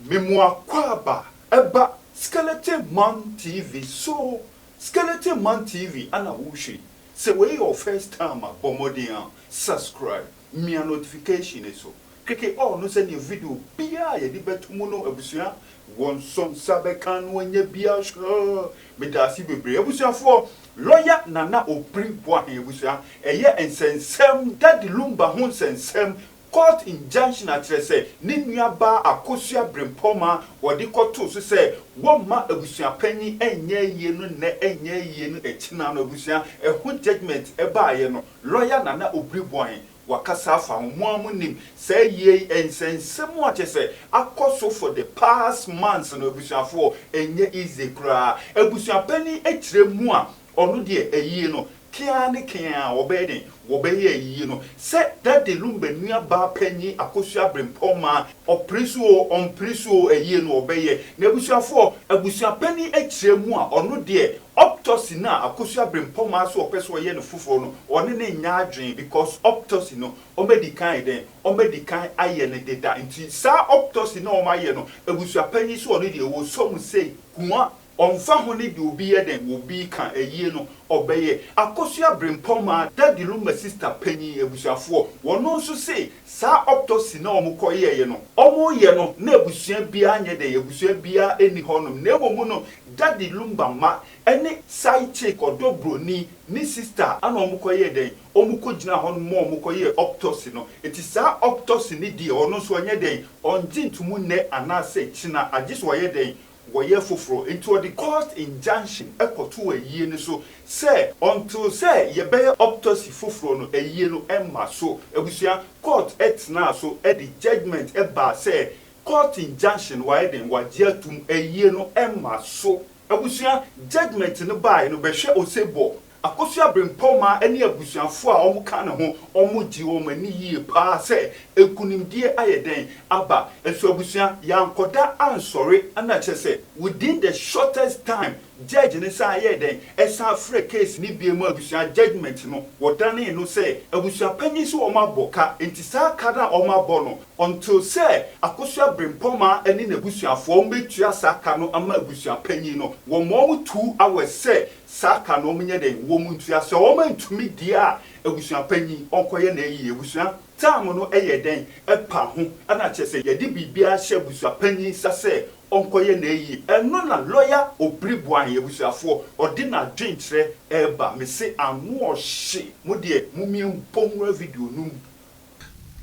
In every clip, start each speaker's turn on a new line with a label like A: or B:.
A: Memoakwaaba ɛba skeleton man TV so skeleton man TV ana wohwɛ yi sɛ wei yɛ wo first time a bɔ mmɔden a subscribe mia notification no so keke all no sɛdeɛ video biaa a yɛde bɛto mu no abusua wɔnsɔ nsa bɛka no anya bi ahwɛ medaase bebree abusuafoɔ lɔya nana obiri boahen abusua ɛyɛ nsɛnsɛm daddy lumba ho nsɛnsɛm Court injunction akyerɛ sɛ ne nua baa Akosua Brempɔn ma wɔde kɔtoo so sɛ wɔmma abusua panyin nyɛ ayie no nnɛ nyɛ ayie no akyinaa no abusua ɛho judgement ɛbaaeɛ no lɔya Nana Obiri Boahen wakasa afa ho mo ara mo nim saa ayie yi nsɛnsɛmu a kyerɛ sɛ akɔ so for the past months no abusuafoɔ ɛnyɛ easy koraa abusua panyin akyire mu a Ɔno deɛ ayie no, keaa ne keaa a wɔbɛyɛ dɛn? Wɔbɛyɛ ayie no. Sɛ Daddy Lumba nua baa panyin Akosua Abrempɔn maa, ɔpere so oo, ɔmpere so oo, ayie no wɔbɛyɛ. Na abusuafoɔ, abusua panin akyire mu a, ɔno deɛ, optocy no a Akosua Abrempɔn maa sɛ ɔpɛ sɛ ɔyɛ no foforɔ no, ɔne no nyɛ adwene because optocy no, wɔadi kan ayɛ dɛn? Wɔadi kan ayɛ no deda. Nti saa optocy no a wɔayɛ no, abusua panyin sɛ ɔno deɛ, wɔsɔ mu sei, hua, Ɔmmfa ho ne deɛ obi yɛ dɛn, obi reka ayie no, ɔbɛyɛ. Akosua Brempong maa Daddy Luma sista panyin abusuafoɔ, wɔno nso se saa optosi no a wɔkɔ yɛeɛ no, wɔreyɛ no na abusua biara nyɛ dɛn, abusua biara nni hɔnom, na mmom no Daddy Lumba mma ne side chick, ɔdɔ broni, ne sista na wɔkɔ yɛɛ dɛn, wɔkɔ gyinaa hɔnom ma wɔkɔ yɛɛ optosi no. Nti saa optosi no deɛ, ɔno nso ɔnyɛ dɛn, ɔngye ntomu nnɛ anaasɛ kyena, agye sɛ ɔyɛ dɛn, wɔyɛ foforɔ, nti ɔde court injunction kɔtoo ayie no so sɛ until sɛ yɛbɛyɛ optocy foforɔ no ayie no mma so. Abusua, court tenaa so de judgement baa sɛ court injunction no wayɛ dɛn? Wagye atom, ayie no mma so. Abusua, judgement no baaeɛ no bɛhwɛ osebɔ. Akosua Bempɔw maa ɛne abusuafo a wɔka ne ho wɔn gyee wɔn ani yie paa sɛ nkunimdie ayɛ dɛn aba. Nso abusua, yɛankɔda ansɔre na kyerɛ sɛ within the shortest time judge no san yɛɛ dɛn ɛsan frɛɛ case no bio maa abusua judgement no wɔdanee no sɛ abusua panyin sɛ wɔabɔ ka nti saa ka no a wɔabɔ no until sɛ Akosua Bempɔw maa ɛne n'abusuafo wɔbɛtua saa ka no ama abusua panyin no wɔmaa wɔn two hours sɛ Saka no ɔmo nyɛ dɛn? Wɔn ntua sɛ ɔmo antumi deɛ a abusua panyin ɔnkɔ yɛ na ayie abusua term no ɛyɛ dɛn ɛpa ho ɛna kyerɛ sɛ yɛde biribiara hyɛ abusua panyin nsa sɛ ɔnkɔ yɛ na ayie ɛno na lɔya obiri boahen abusuafoɔ ɔde na adwen kyerɛ ɛɛba mese ano ɔhye mo deɛ momie nkɔ nwura video no mu.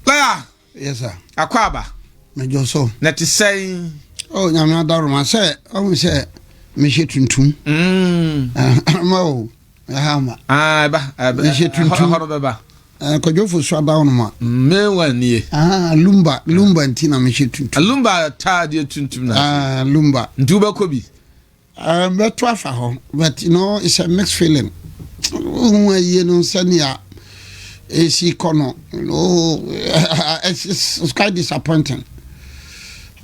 A: Lɔya
B: Yes sir.
C: Akwaaba.
B: Mejɔ so.
C: Na te sɛn?
B: Oh nyame
C: adaroma sɛ ɔhu sɛ mehyɛ tuntum. Mm. Ma o. Ɛha ma. Ah ɛba.
B: Mehyɛ tuntum. Ɛhɔ
C: no bɛba. Eh,
B: kwadwofo so
C: ada wo no ma mewa nie
B: ah, lumba lumba
C: nti na mehyɛ tuntum lumba ataadeɛ
B: tuntum na ah, lumba nti wobɛkɔ
C: bi
B: Eh, bɛto
C: afa hɔ but you know it's a mixed feeling wohu ayie no sɛnea ɛsi kɔ no you know it's quite disappointing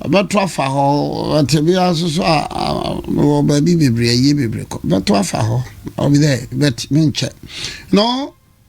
C: bɛto afa hɔ ɔtebea nso so a wɔ baabi bebree ayie bebree kɔ bɛto afa hɔ ɔbi dɛ bɛt menkyɛ no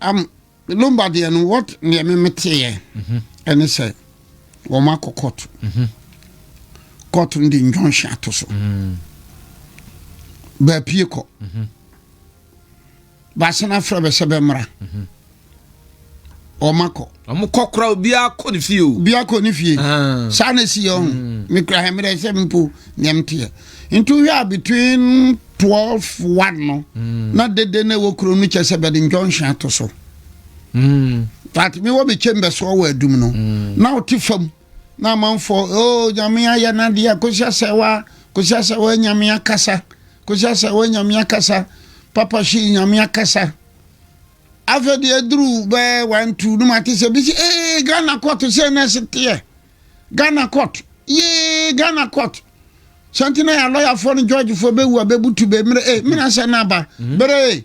C: am lumba deɛ no what deɛ me me teɛ ɛne mhm. sɛ wɔn akɔ court mhm. court no de injunction ato so mm. baapie kɔ mhm. baasena afrɛ bɛ sɛ bɛ mmara wɔn akɔ. wɔn kɔ kora obiara
B: kɔ ne fie o. obiara kɔ ne fie ah. saa na esi yɛ
C: ɔho mm. mekura hɛmmerɛ sɛ mpo nea m teɛ nti wohwɛ a between 12 1 no mm. na dede na ɛwɔ kuro no kyɛ sɛ bɛde njɔnhwe ato so mm. but mewɔ me chamber soɔ wɔ adum no mm. na wote fam na amanfoɔ o oh, nyame ayɛ no adeɛ kosi asɛ wa kosi asɛ wa nyame akasa kosi asɛ wa nyame akasa papa hyi nyame akasa afei deɛ aduru bɛɛ wantu no mate sɛ bi sɛ ee ghana kɔto sɛ na ɛseteɛ Ghana court yee Ghana court sɛnti na yɛ lɔyafoɔ no jɔɔgyefoɔ bɛwu a bɛbutu bɛ mmerɛ e mmena sɛ no aba mhm. berɛ e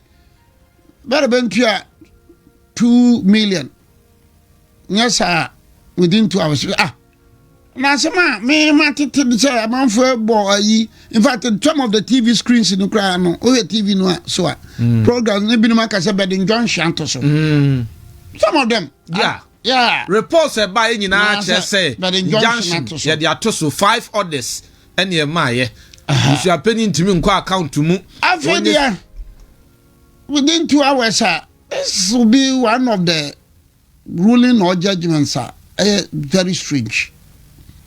C: bɛrɛ bɛntua two million nyɛ saa within two hours ah na asɛm a mema tete de sɛ amanfoɔ bɔ ayi in fact some of the tv screens no koraa no wohwɛ tv no a so a mm. programs no binom aka sɛ bɛde njɔnhwe ato so mm. some of them yeah. Ah, Reports a ɛbaeɛ
B: nyinaa kyerɛ sɛ injunction yɛde ato so, five orders ɛne ɛmaeɛ. Busuapanyin ntumi nkɔ account mu. Afei deɛ within two hours a this will be one of the ruling or judgments a ɛyɛ very strange.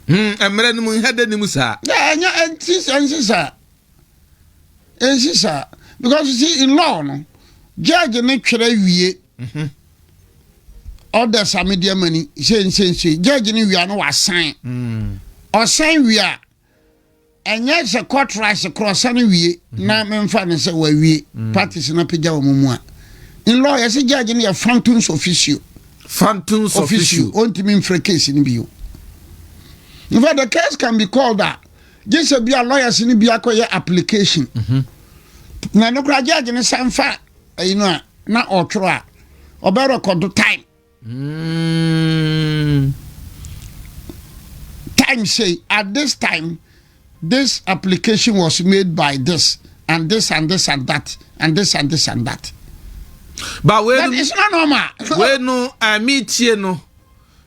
B: Hmm, mmerɛ no mu nhɛdɛ no mu saa. Ɛnyɛ ɛnti
C: ɛnsi saa ɛnsi saa because you see in law no judge ne twerɛ wie. Mhm. Orders a mede ama ni sei nsei nsei. Judge no wia no wasan. Mm. Ɔsan wie a ɛnyɛ sɛ court rice korɔ ɔsan wie mhm. na memfa no sɛ wawie mm. parties no apagya wɔ mu mu a. In law yɛsɛ judge no yɛ phantoms officio. Phantoms officio. Ɔntumi mfrɛ case no bio. In fact, the case can be called a gye sɛ bia lawyers no bi akɔyɛ application. Mm -hmm. Na no kora judge no san fa ɛyi no a na ɔtwerɛ a ɔbɛ rekɔdo time mm. time say at this time this application was made by this and this and this and that and this and this and that but
B: wei no it's not normal
C: wei no ɛmi
B: tie no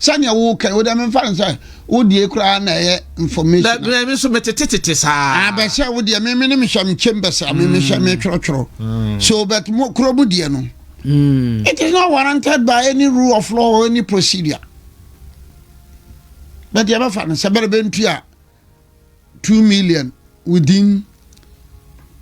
C: sɛnea woka wo dɛ memfa no sɛ wodie koraa na ɛyɛ information na ɛmi nso
B: metetetete saa abɛsɛ wo
C: deɛ meme ne mehyɛ mekyɛm bɛsɛ me mehyɛ metwerɛtwerɛ mm. so but mo kuro mu deɛ no mm. it is not warranted by any rule of law or any procedure but yɛbɛfa no sɛ bɛrɛ bɛntu a two million within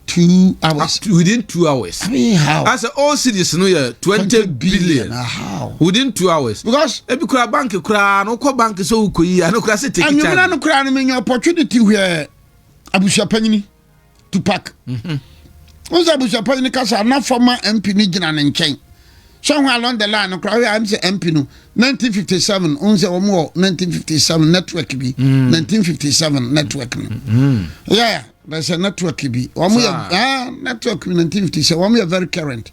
C: two hours. Uh, within two hours. I
B: mean how? I said
C: all cities no
B: yeah twenty billion. billion. Uh, how? Within
C: two hours.
B: Because ebi kura bank
C: kura
B: no kɔ bank so wukɔ yi ano kura se take time. Anyimina no kura no mi nya
C: opportunity where abusuapanyini. tupac mhm. wọn sɛ abusuapɔn no kasa na fɔma mp no gyina ne nkyɛn sɛ ho along the line no koraa am sɛ mp no 1957 wọn sɛ wɔn wɔ 1957 network bi 1957 mm. network no mm. yɛ na sɛ network bi wɔn yɛ ah, network bi 1957 wɔn yɛ very current.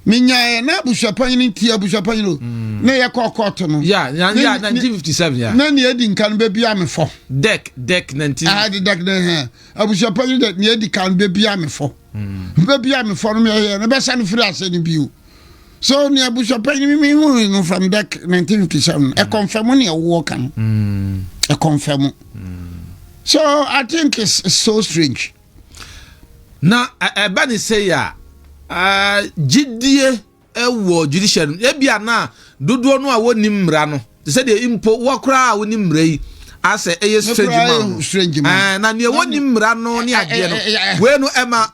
C: menyaeɛ na abusuapanyin nti abusuapanyin o na yɛ kɔ kɔɔto no ya ya ya 1957
B: ya na nea edi nka no bebia
C: me fɔ dek dek 19
B: ah de dek dek hɛ
C: abusuapanyin de nea edi kan bebia me fɔ hmm. bebia me fɔ no me yɛ no bɛsa no firi ase no bio so nea abusuapanyin mi mi hu no from dek 1957 ɛkɔnfɛ mu nea ɛwɔ kan ɛkɔnfɛ mu so i think it's, it's so strange.
B: na ɛba ne sɛ yɛ a gyidie wɔ judiciary no ebia na dodoɔ no a wɔnni mmara no te sɛ deɛ mpo wɔkoraa a wɔnni mmara yi asɛ ɛyɛ strange ma no na nea wɔnni mmara no ne adeɛ no wei no ɛma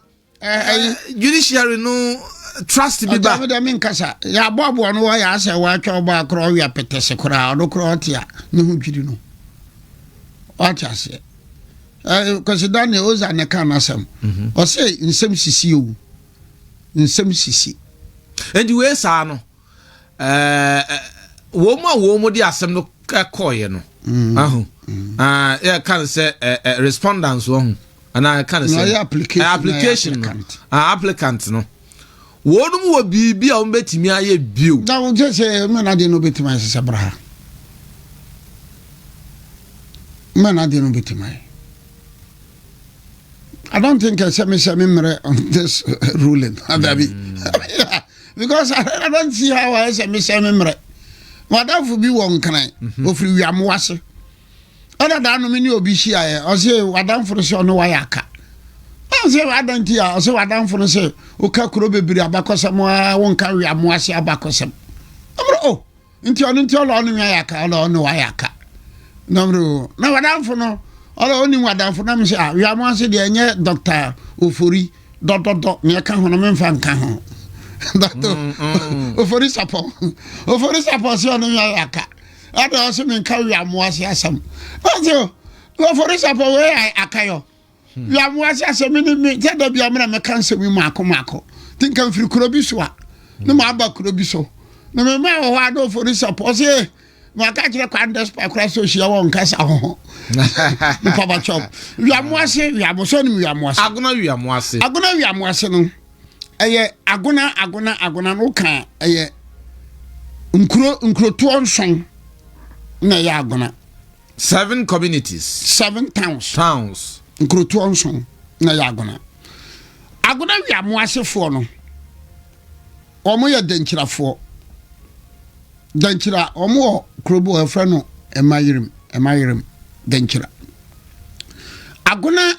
B: judiciary no trust bi ba. ɔdɛm mi nkasa
C: yɛaboaboa no wɔ yɛ asɛ wɔatwa ɔbɔ akorɔ ɔwia pɛtɛse koraa ɔno koraa ɔte a ne ho dwiri no ɔte aseɛ Eh, Kwasi Daniel Oza na ɛka n'asɛm. Mhm. Ɔsɛ nsɛm sisi o. Nsɛm sisi. Enti wei
B: saa no, eh, eh, wɔn a wɔn de asɛm no kɔɔeɛ no, mm. ahu, mm. ah, yɛka no sɛ eh, eh, respondents wɔn ho, anaa yɛka no sɛ application no, ah, applicant no. wɔnom wɔ biribi a wɔbɛtumi ayɛ bio. na wokyɛ sɛ
C: mɛnade no bɛtumi ayɛ sɛ bra ha mɛnade no bɛtumi ayɛ I don't think I say me say me mere on this ruling. Adabi. Mm. Because I, I don't see how I say me say me mere. Madam for be one kind. Ofri wiamuwase. ɛna daa no me ne obi hyiaeɛ ɔse w'adamfo no sɛ ɔne wayɛ aka ɛn sɛ adan nti a ɔsɛ w'adamfo no sɛ woka kuro bebree abakɔsɛm a wonka weamo ase abakɔsɛm ɛmrɛ o oh, nti ɔno nti ɔlɔ ɔne wayɛ aka ɔlɔ ɔne wayɛ aka na mrɛ o na w'adamfo no ɔlɔ ɔnim w'adamfo na me sɛ a ah, weamo ase deɛ ɛnyɛ dɔkta ofori dɔdɔdɔ nea ɛka ho no memfa nka ho dɔkta mm, mm. ofori sapɔ ofori sapɔ sɛ ɔne wayɛ aka Ada ɔse me nka wiamoase asɛm. Ɔse wɔ forisapɔ wei a akayɔ. Hmm. Wiamoase asɛm ne me sɛ da bia mena meka nsɛm yi maako maako. Nti nka mfiri kuro bi so a hmm. ne maaba kuro bi so. Na mema wɔ hɔ a na forisapɔ ɔse maka kyerɛ kwan despite kora sɛ ɔhyia wɔ nkasa ho ho. Mpabakyɛw. Wiamoase wiamoso ne wiamoase. Agona wiamoase. Agona wiamoase no. ɛyɛ agona agona agona no ka ɛyɛ nkuro nkurotoɔ nson na ɛyɛ agona. seven
B: communities. seven towns.
C: towns. nkurotoɔ nson na ɛyɛ agona agona wia mo asefoɔ no wɔn yɛ dɛnkyirafoɔ dɛnkyira wɔn wɔ kurobo ɛfrɛ no ɛma yirim ɛma yirim dɛnkyira agona.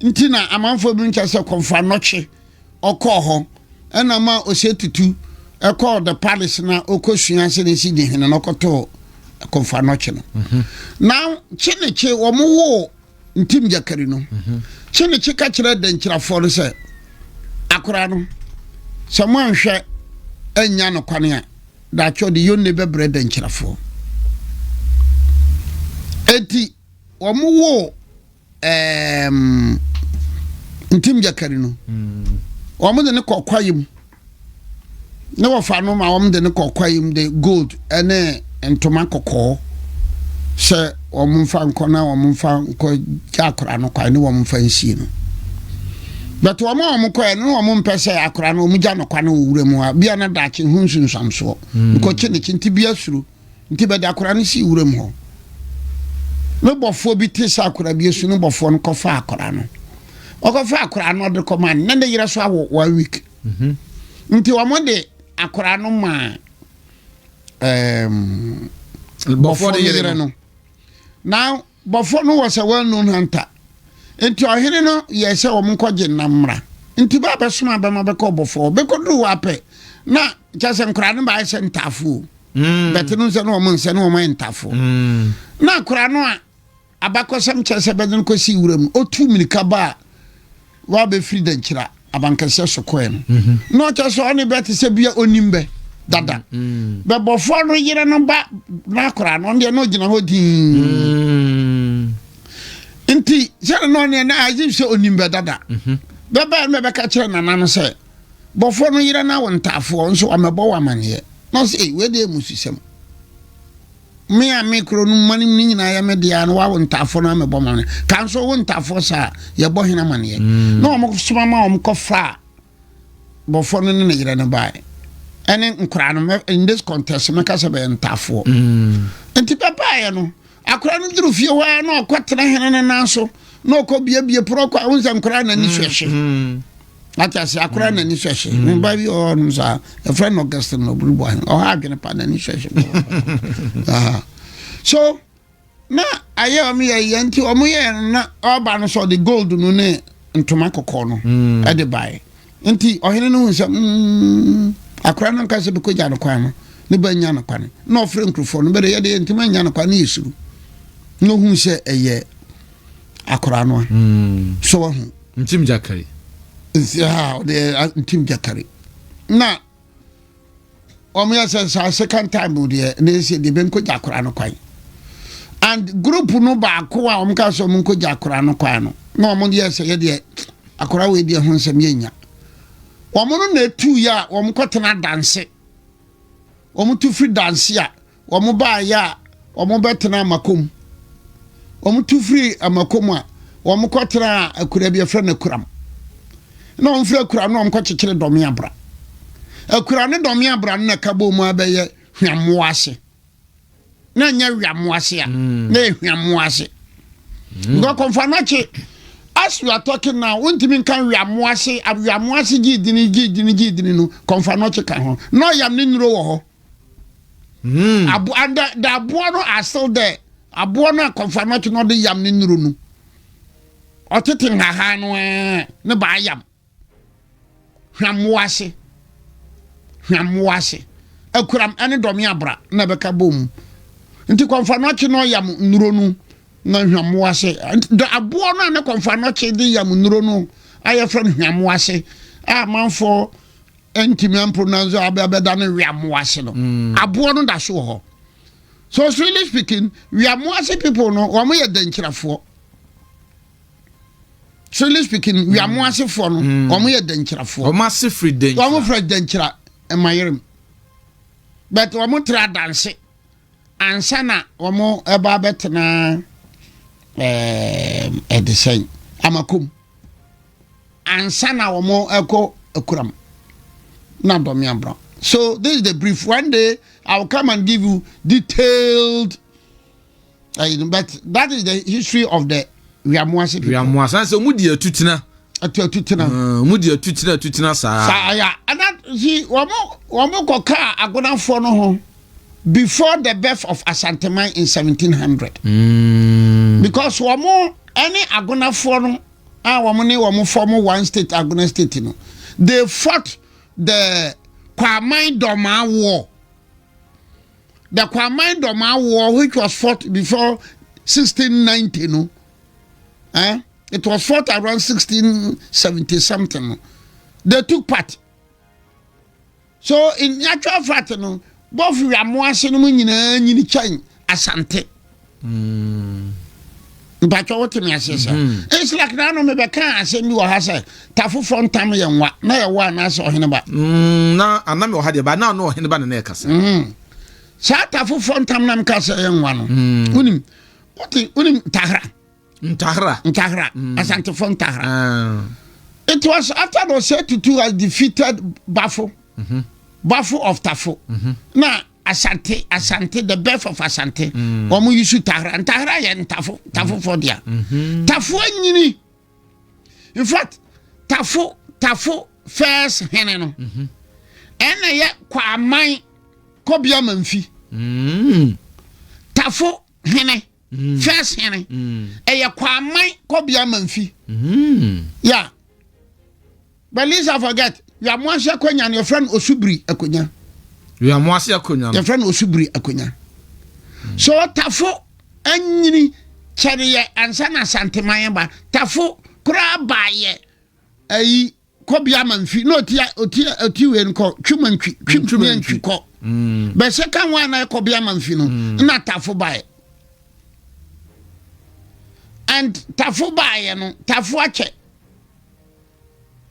C: nti na amanfoɔ bi nkyɛ sɛ kɔmfa nɔkye ɔkɔɔ hɔ ɛna ma ɔsɛ tutu ɛkɔɔ the palace na ɔkɔsua sɛ ne si gye hene na ɔkɔtɔɔ kɔmfa nɔkye no mhm. na kye ne kye wɔn woo ntim gyakari no mhm. kye ne kye ka kyerɛ dɛnkyirafoɔ no sɛ akora no sɛ moanhwɛ annya no kwane a daakye ɔde yonne bɛbrɛ dɛnkyirafoɔ enti wɔn woo ɛɛm ntim gyakari no wɔn de ne kɔ kwaeɛ mu ne wɔfa no ma wɔn de ne kɔ kwaeɛ mu de gold ne ntoma kɔkɔɔ sɛ wɔn mfa nkɔ na wɔn mfa nkɔ gya akora no kwae ne wɔn mfa nsie no bɛtɛ wɔn a wɔn kɔɛ no wɔn mpɛ sɛ akora no wɔn gya no kwa no wɔ wura mu a bia na daakye ho nsunsuamsoɔ nkɔkye ne kye nti bia suro. Nti bɛde akora no sii wuram hɔ. Ne bɔfoɔ bi te sɛ akora bi asu ne bɔfoɔ no kɔfa akora no. Ɔkɔfa akora no ɔde kɔma no, na ne yere so awo one week. Mhm. Nti wɔn de akora no maa ɛɛm bɔfoɔ no yere no. Now Bɔfoɔ no wɔ sɛ wɔannu no antaa. Enti ɔhene no yɛɛ sɛ wɔnkɔgye nnam mmra. Enti bɛ a bɛsomaa bɛ ma bɛkɔɔ bɔfoɔ hɔ. Bɛkɔduruu hɔ ara pɛ, na kyerɛ sɛ nkwadaa no bɛayɛ sɛ ntaafoɔ o, bɛte no nsɛ ne wɔn nsɛ ne wɔn ayɛ ntaafoɔ. Na akwadaa no a abakɔsɛm kyerɛ sɛ bɛde no kɔsii wuram no, ɔtuu mmirika baa Wɔabɛfiri Dankyira abankɛseɛ so kɔɛ no, na ɔkyɛ sɛ ɔne bɛ te sɛ bia ɔnim bɛ dada. Bɛbɔfoɔ no yere no ba no akoraa no, ɔno deɛ na ɔgyina hɔ dinn. Nti sɛdeɛ na ɔneɛ na agye sɛ ɔnim bɛ dada. Bɛbaɛ no bɛbɛka kyerɛ nana no sɛ, bɔfoɔ no yere no awo ntaafoɔ nso ɔmɛbɔ wo amanneɛ. Na ɔsɛ, ei, wei deɛ yɛ mmususɛm. Me a me kuro no mma no mu no nyinaa yɛ me deɛ no wawo ntaafoɔ no amebɔ ma no ka nso wo ntaafoɔ saa yɛbɔ hena amaneɛ mm. na wɔn soma ma wɔn kɔfa bɔfoɔ no ne ne yerɛ no baeɛ ɛne nkoraa no in this contest mɛka sɛ bɛyɛ ntaafoɔ mm. nti bɛbaeɛ no akora no duru fie hɔ ara na ɔkɔtena hene no nan so na ɔkɔ biebie porɔ kɔ a wo nsɛ nkoraa na ni mm, so ɛhye ate ase akora mm. n'ani hwɛhye mm. ne ba bi wɔ hɔnom saa ɛfrɛ no augustin na ɔburu bɔ ɔha adwene pa n'ani hwɛhye so na ayɛ ɔmo yɛ yɛ nti ɔmo yɛ na ɔba no sɛ ɔde gold no ne ntoma kɔkɔɔ no mm. ɛde baeɛ nti ɔhene no hu sɛ mm, akora no nka sɛ bɛkɔgya no kwan no ne ba nya no kwane na ɔfrɛ nkurɔfoɔ no bɛde yɛde yɛ ntoma nya no kwane ne yɛ suru na ɔhu sɛ ɛyɛ akora no a hmm. so wɔ ho ntim jakari
B: nsi ha
C: ɔde ntim jakari na wɔn yɛ sɛ saa second time deɛ na ɛsɛ deɛ bɛnkɔ gya akora no kwan and group no baako a wɔn ka sɛ wɔn nkɔ gya akora no kwan no na wɔn yɛ sɛ yɛ deɛ akora wei deɛ ho nsɛm yɛ nya wɔn no na etu yɛ a wɔn kɔ tena danse wɔn tu firi danse a wɔn baayɛ a wɔn bɛtena amakom wɔn tu firi amakom a wɔn kɔ tena akura bi ɛfrɛ no akuram na wɔn firi akuram na wɔn kɔ kyekyere dɔme abra akura ne dɔme abra no na ɛka bɔ mu abɛyɛ hwammoa ase na nyɛ hwammoa ase a mm. na yɛ hwammoa ase mm. nkɔ kɔnfa n'akyi as you are talking now wontumi nka hwammoa ase hwammoa ase gyi dini gyi dini gyi dini no kɔnfa n'akyi ka ho na ɔyam ne nnuro wɔ hɔ. Hmm. Abo and the, the aboa no are still there. Aboa no akɔfa no ɔte na ɔde yam ne nuru no. Ɔtete nhahan no ɛɛ eh, ne ba ayam. Hwammoa ase. Hwammoa ase. Akuram ɛne dɔme abra na ɛbɛka bom. Nti kɔnfa no ɔkye na ɔyam nuro no na hwammoa ase. The aboa no a ne kɔnfa no ɔkye de yam nuro no ayɛ fɛ no hwammoa ase. A manfoɔ ɛntumi ampronanso abɛda no weamoa ase no mm. aboɔ no da so wɔ hɔ so really speaking weamoa ase people no wɔn yɛ dɛnkyerɛfoɔ really speaking mm. weamoa asefoɔ no mm. wɔn yɛ dɛnkyerɛfoɔ wɔn ase firi dɛnkyerɛ
B: wɔn firi dɛnkyerɛ
C: ɛmayerem but wɔn tra danse. Ansa na wɔreba abɛtena ɛde sɛn amakom ansa na wɔn ɛkɔ akuram na dɔmi abura so this is the brief one day i will come and give you detailed uh, but that is the history of the wiamuase people wiamuase so mu di
B: atutena atu atutena mm, mu di atutena atutena saa saa ya ana si
C: wɔn wɔn kɔ kaa agonafoɔ no ho. before the birth of Asanteman in 1700. Mm. Because wɔn ɛne agonafoɔ no a wɔn ne wɔn form one state agona state no they fought the Kwaman Doma war. The Kwaman Doma war which was fought before 1690 no. Eh? It was fought around 1670 something. They took part. So nnyatwa Efrate no Gulf Weamoase no mu nyinaa nyini kyɛn Asante? Mpakyɛ wote me aseɛ sa? It's like na ano mebɛkaa asɛm bi wɔ ha sɛ tafoforɔ ntam yɛ nwa na yɛ wɔ anaasɛ ɔhene ba. Na ana me
B: wɔ ha deɛ ba na ano ɔhene ba na na ɛkasa. Saa
C: tafoforɔ ntam na meka sɛ yɛ nwa no. Wonim wote wonim tahra. Ntahra. Ntahra. Mm. Asantefo Ntahra. Uh. It was after the Osei Tutu has defeated Bafo. Mm -hmm. Bafo of Tafo. Mm -hmm. Na Asante, Asante, the birth of Asante. Mm. Wɔn mm. yusu Tahra. Ntahra yɛ Ntafo, Tafo mm. fɔ dia. Mm -hmm. Tafo enyini. In fact, Tafo, Tafo first hene no. Mm -hmm. Ɛna yɛ Kwaman Kɔbea Manfi. Mm. Tafo hene. mm. first hene mm. ɛyɛ kwaman kɔbea manfi mm. ya but lisa forget wiamoase akonya no yɛfrɛ no osubiri akonya wiamoase
B: akonya no yɛfrɛ no osubiri akonya
C: so tafo anyini kyɛreyɛ ansa na asanteman ba tafo koraa baayɛ ayi kɔ bia ma mfi na ɔti ɔti ɔti wei no kɔ twima ntwi twima ntwi kɔ mm. bɛ second one na ɛkɔ bia ma mfi no mm. na tafo baeɛ and tafo baeɛ no tafo akyɛ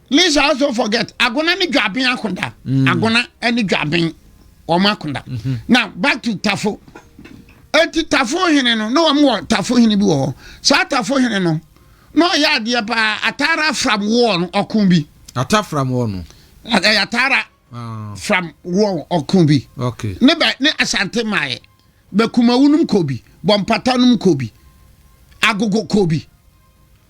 C: lisa also forget agona ne dwaben akoda mm. agona ne dwaben wɔn akoda mm-hmm. now back to tafo eti tafo hene no na wɔn wɔ tafo hene bi wɔ hɔ saa tafo hene no. na ɔyɛ adeɛ paa atara from war no ɔko bi ata from war
B: no ɛyɛ atara ah.
C: from war ɔko bi okay. ne bɛ ne
B: asante
C: maayɛ bɛkumawu nom kɔ bi bɔmpata nom kɔ bi agogo kɔ bi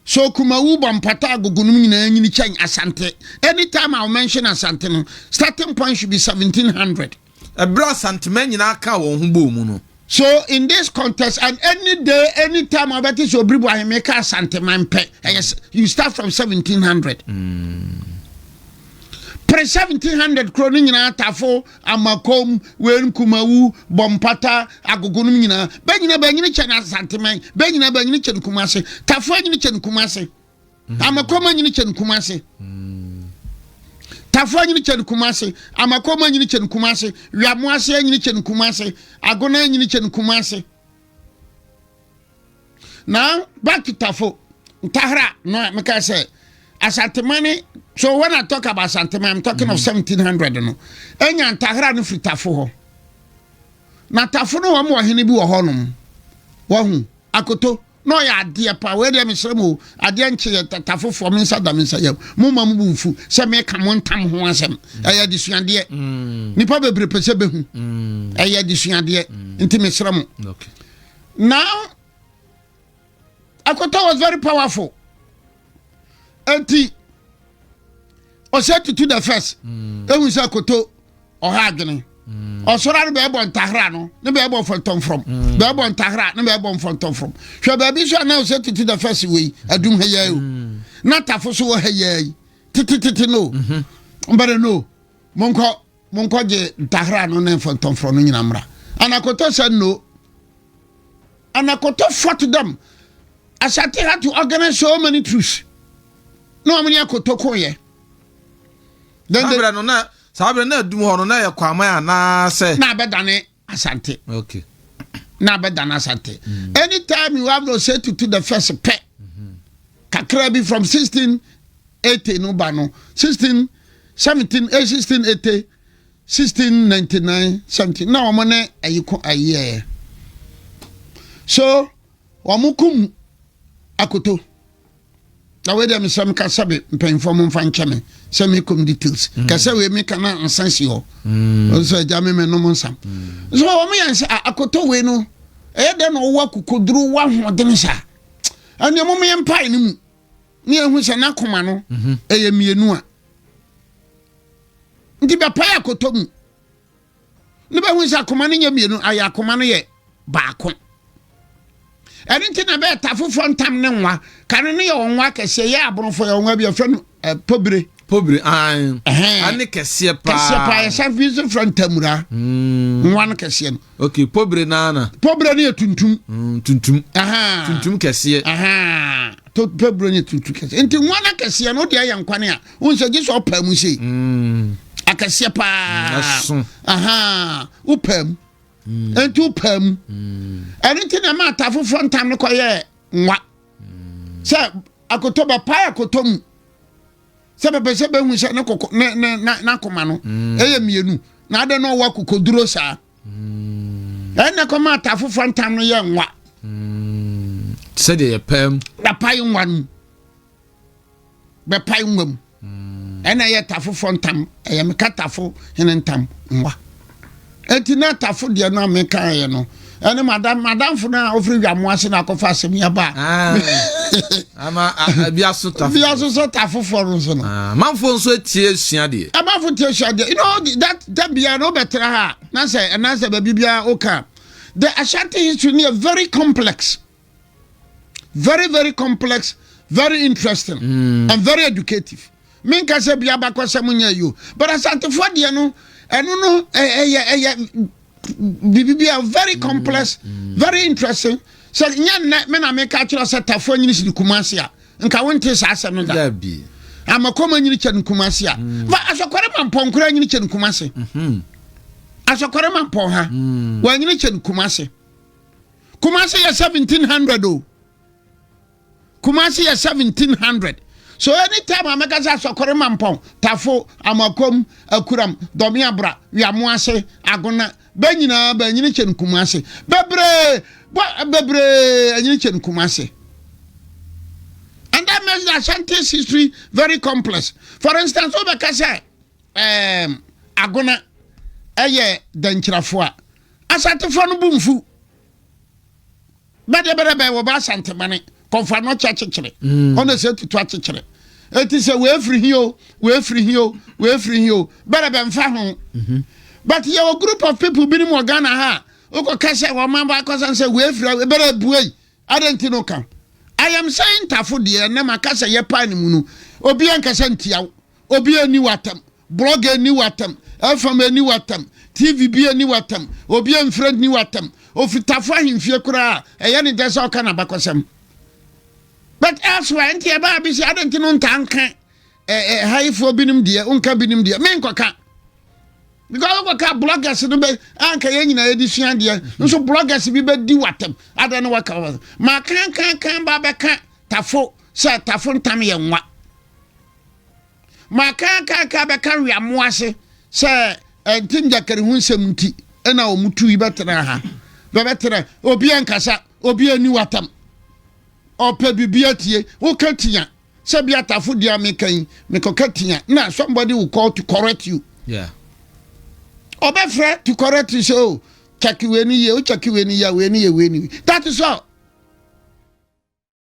C: so kumawu bɔmpata agogo nom nyinaa nyini kyɛn asante anytime a wɔmention asante no starting point should be 1700 Ɛberɛ a
B: santeman nyinaa kaa wɔn ho bɔɔ mu no. So in this
C: context and any day any time a wobɛte sɛ Obiribu Ahemee kaa santeman pɛ, ɛyɛ you start from 1700. Mm. Pre 1700 kuro no nyinaa tafo amakom wei nkumawu bɔmpata agogo no nyinaa bɛnyina bɛnyini kyɛ na santeman bɛnyina bɛnyini kyɛ no kumase tafo anyini kyɛ no kumase amakɔma nyini kyɛ no kuma ase tafoɔ nyini kyɛ no kuma ase amakɔma nyini kyɛ no kuma ase wiamo ase nyini kyɛ no kuma ase agona nyini kyɛ no kuma ase na back to tafo ntahara no a meka sɛ asantemane so when i talk about asantemane i'm talking mm. of 1700 mm-hmm. no ɛnya ntahara no firi tafo hɔ na tafo no wɔn wɔ hene bi wɔ hɔ nom wɔn ho akoto. na ɔyɛ adeɛ pa wei deɛ mesrɛ mu o adeɛ nkye yɛ tata fofoɔ me nsa da me nsa yam mo ma mo bu mfu sɛ meka mo ntam ho asɛm ɛyɛ adesuadeɛ mm. nipa bebree pɛ sɛ bɛhu mm. ɛyɛ adesuadeɛ mm. nti mesrɛ mo
B: now
C: akɔtɔ was very powerful enti ɔhyɛ tutu the first mm. ehu sɛ koto ɔha adwene mm. ɔsɔra no bɛɛbɔ ntahra no ne bɛɛbɔ fɔntɔnfrɔm mm. bɛɛbɔ ntahra ne bɛɛbɔ mfɔntɔnfrɔm hwɛ baabi so anaa ɔhyɛ tutu the first wei adum ha yɛɛ o na tafo so wɔ ha yɛɛ yi titititi no mbɛrɛ no monkɔ Monkɔgye ntahra no ne mfɔntɔmforɔ no nyina mmra. Anakoto said no. Anakoto fought them. Ashanti had to organize so many troops. Na wɔn ne akoto koyɛ. Then they. Saa berɛ no na
B: saa berɛ na adum hɔ no na yɛ kwaman anaasɛ. Na abɛdane.
C: Asante. Okay.
B: Na abɛdan
C: Asante. Mm. Anytime you have no say to to the first pɛ. Mm-hmm. Kakra bi from 1680 no ba no 16 17 eh, 1680 1699 17 na wɔn ne ayi ko ayi yɛ. So wɔn kum akoto. na wei deɛ mesɛ meka sɛ be mpanyimfoɔ mo mfa nkyɛ me sɛ mekom details mm. kɛ sɛ wei meka na nsa si hɔ mm. sɛ agya me menom nsam mm. so wɔm yɛn sɛ akɔtɔ wei no ɛyɛ dɛn na ɔwɔ akokoduro wɔ ahoɔden saa ɛneɛ mom yɛ mpae no mu ne yɛhu sɛ n'akoma no mhm. ɛyɛ mmienu a nti bɛpae akɔtɔ mu ne bɛhu sɛ akoma no nyɛ mmienu ayɛ akoma no yɛ baako ɛno nti na bɛɛta foforɔ ntam ne nwa ka no no yɛ ɔnwa kɛseɛ yɛ aborɔfo yɛ ɔnwa bi ɛfrɛ no eh, pobire pobire an
B: ane kɛseɛ paa kɛseɛ paa yɛsan fi so frɛ
C: ntamura hmm. nwa no kɛseɛ no ok pobire naana
B: pobire no yɛ tuntum
C: hmm, tuntum
B: tuntum kɛseɛ
C: pobire no yɛ tuntum kɛseɛ nti nwa no kɛseɛ no wode ayɛ nkwane a wohu sɛ gye sɛ ɔpaa mu sei mm. akɛseɛ paa mm, aha wopaa mu mm. ɛnti wopaa mu ɛno nti na ɛma ata foforɔ ntam no kɔyɛ nwa sɛ akotɔ bɛpae akotɔ mu sɛ bɛpɛ sɛ bɛhu sɛ ne koko ne ne n'akoma no ɛyɛ mmienu na adɛ na ɔwɔ akokoduro saa ɛnna kɔma ata foforɔ ntam no yɛ nwa
B: sɛdeɛ yɛpaa mu yɛpae nwa no mu
C: bɛpae nwa mu hmm. ɛna ɛyɛ tafofoɔ ntam ɛyɛ meka tafo hene ntam nwa ɛnti na tafo deɛ no a mekaeɛ no ɛne madam madamfo no a ɔfiri dwamo ase na akɔfa asɛm yi aba ah.
B: biaso sɛ
C: tafofoɔ no nso no ah, manfoɔ nso atie
B: sua deɛ ɛmanfo tie sua deɛ you
C: know that da biara na wobɛtra ha na sɛ ɛnasɛ baabi biara woka the ashanti history no yɛ very complex very very complex very interesting mm. and very educative menka sɛ bia bakɔ sɛ monyɛ yo but asantefoɔ deɛ no ɛno no ɛyɛ ɛyɛ biribi a very mm, complex mm. very interesting sɛ nyɛ nnɛ me na meka kyerɛ sɛ tafoɔ nyini si ne kuma ase a nka wonte saa asɛm no da amakɔma
B: nyini
C: kyɛ ne kuma ase a mm. ba asɔkɔre ma mpɔnkora nyini kyɛ ne kuma ase mm-hmm. asɔkɔre ma mpɔn ha wɔanyini kyɛ ne kuma ase Kumasi yɛ seventeen hundred o Kumasi yɛ seventeen hundred so anytime a mɛka sɛ asɔkɔre ma mpɔn tafo amakom akuram dɔmeabra wiamo ase agona bɛ nyinaa bɛ anyini kyɛ no Kumasi bebree bebree anyini kyɛ no Kumasi. And that makes the Ashanti's history very complex. For instance, wobɛka sɛ um, agona ɛyɛ dankyirafoɔ a Asantefoɔ no bo mfu. Bɛdeɛ bɛdɛ bɛyɛ wɔbɔ asante mane kɔmfa no ɔkyɛ akyekyere mm. ɔna sɛ tutu akyekyere ɛti sɛ wɔafiri hi o wɔafiri hi o wɔafiri hi o bɛdɛ bɛmfa ho mhm. but yɛwɔ group of people binom wɔ ghana ha wokɔka sɛ wɔma bɔ akɔsan sɛ wɔafiri bɛdɛ buei adɛn nti no ka ayam sɛ ntafo deɛ na maka sɛ yɛpa ne mu no obi ankasa ntiaw Obi anni w'atam, blɔg anni w'atam, FM anni w'atam, TV bi anni w'atam, obi amfiri anni w'atam. Ofitafo ahemfie koraa ɛyɛ ne dɛ sɛ ɔka n'abakɔsɛm. But elsewhere nti ɛbaa bi sɛ adɛn nti no ntaa nka ɛhayifoɔ binom deɛ, wonka binom deɛ, menkɔka. Because wokɔka bloggers no bɛ anka yɛn nyinaa yɛde sua deɛ, nso bloggers bi bɛdi w'atam, adɛn no waka w'atam. Makankankan ba bɛka tafo sɛ tafo ntam yɛ nwa. Ma kaakaaka bɛka weamoa ase sɛ ɛnte njakari ho nsɛm nti ɛna wɔn tu yi bɛtena ha bɛbɛtena obi ankasa obi ani watam ɔpɛ bibi atie woka tia sɛ bi atafo di ameka yi mekɔka tia na somebody will call to correct you yeah. ɔbɛfrɛ to correct you sɛ o oh, kyɛke wei ni yie o kyɛke wei ni yie wei ni yie wei ni that is all.